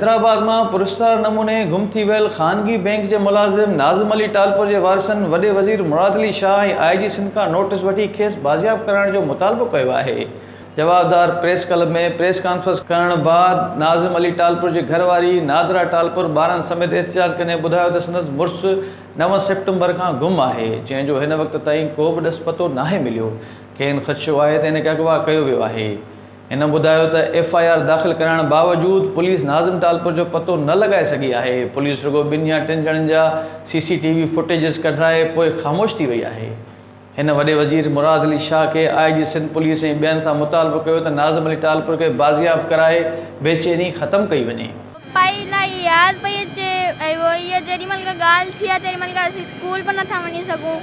حيدرآباد مان پراسرار نموني گم ٿي ويل خانگي بئنڪ جي ملازم ناظم علي ٽالپر جي وارثن وڏي وزير مراد علي شاهه ۽ آء جي سنڌ کان نوٽيس وٺي کيس بازياب ڪرائڻ جو مطالبو ڪيو آهي جوابدار پريس ڪلب ۾ پريس ڪانفرنس ڪرڻ بعد ناظم علي ٽالپر جي گهر واري نادرا ٽالپر ٻارن سميت احتجاج ڪندي ٻڌايو ته سندس مڙس نو سيپٽمبر کان گم آهي، جنهن جو هن وقت تائين ڪو به ڏس پتو ناهي مليو، کين خدشو آهي ته هن کي اغوا ڪيو ويو آهي. هن ٻڌايو ته ايف آء آر داخل ڪرائڻ باوجود پوليس ناظم ٽالپر جو پتو نه لڳائي سگهي آهي، پوليس رڳو ٻن يا ٽن ڄڻن جا C C T V footages ڪڍرائي پوء خاموش ٿي وئي آهي. هن وڏي وزير مراد علي شاهه کي آء جي سنڌ پوليس ۽ ٻين سان مطالبو ڪيو ته ناظم علي ٽالپر کي بازياب ڪرائي بي چيني ختم ڪئي وڃي. پپائي الائي ياد پئي اچي ۽ هو هيء جيڏي مهل کان ڳالهه ٿي آهي تيڏي مهل کان اسين اسڪول به نٿا وڃي سگهون.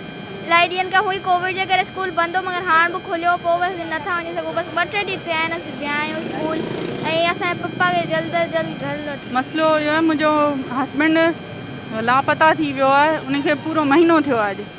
الائي ڏينهن کان هئي ڪووڊ جي ڪري اسڪول بند هو مگر هاڻ به کليو پوء به اسين نٿا وڃي سگهون بس ٻه ٽي ڏينهن ٿيا آهن اسين ويا آهيون اسڪول ۽ اسان جي پپا کي جلد از جلد گهر لوٽائو. مسئلو اهو آهي منهنجو هسبينڊ لاپتا ٿي ويو آهي ان کي پورو مهينو ٿيو آهي اڄ.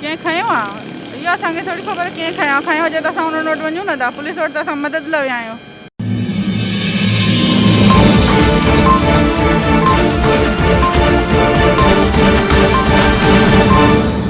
ڪنهن کنيو آ؟ اهو اسان کي ٿوري خبر ڪنهن کنيو آ. کنيو هجي ته اسان انهن وٽ وڃون نه ٿا. پوليس وٽ ته اسان مدد لا ويا آهيون.